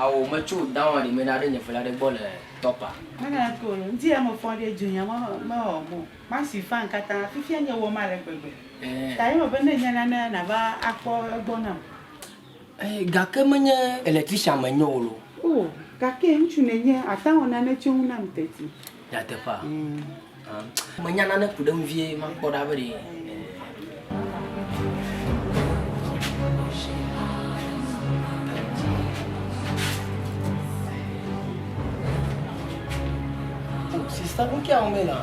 Ao metso down aɖe me ɖaɖe nye fela ɖe gbɔ le top a. Mena na to lo nti ya me fɔ ɖe dzu nya ma me wɔ mo. Ma si fan kata fifia nye wɔ ma le gbegbe. Ta ye me be ne nya na ne na va akpɔ egbɔ na. Ɛɛ, gake menye electrician menye o loo. O, gake ŋutsu nènye, àte ŋu awɔ nane tso eŋu nam teti. Nyateƒea? Ɛɛ. Ã, menya nane ku ɖe eŋu vie makpɔ ɖa be ɖe. O, sista, nu ka wɔm èle hã?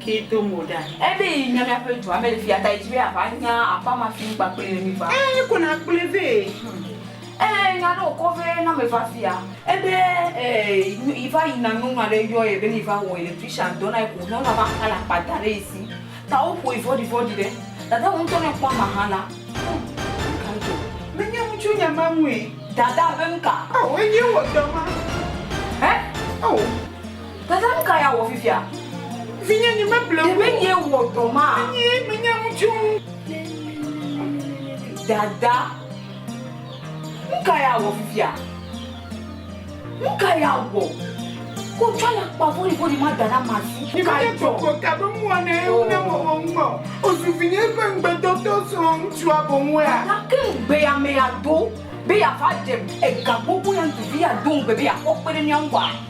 Kee do mo ɖa. Ebe yi nya miaƒe dua me le fia ta yi dzi be ava nya aƒa ma fi ŋkpa kple ye mi va. Ee ko na kplɔe vɛ. Ee nya ɖe wokɔ vɛ na me va fia. Ebe ee yi va yi na nyɔnua ɖe yɔ ye be ne yi va wɔ electrician dɔ na yi ko nyɔnua va kpla akpa da ɖe yi si ta wo ƒoe vɔɖivɔɖi ɖe. Dada wò ŋutɔ ne ekpɔ ama hã la hum nuka dzo. Me nya nu tso nya ma ŋue. Dada be nuka? Ao eye wɔ dɔ ma. Hɛ? Ao. Tete nu ka ya wɔ fifia? Vinye nye me ble wu. Ɖe nye wɔ dɔ ma? Nye me nya nu tso. Dada. Nu ka ya wɔ fifia? Nu ka ya wɔ? Ko tsɔ ya kpa vori vori ma da na ma si. Nye me tso ko ka be mua ne ewu ne mo mo ŋgbɔ. Ozu vinye ƒe ŋgbe do to srɔ̃ ŋutsua bo ŋue. Dada ke ŋgbe ya me ya do be ya va ɖe ega gbogbo ya ŋtu vi ya do ŋgbe be ya kpɔ kpe ɖe mía ŋgɔa.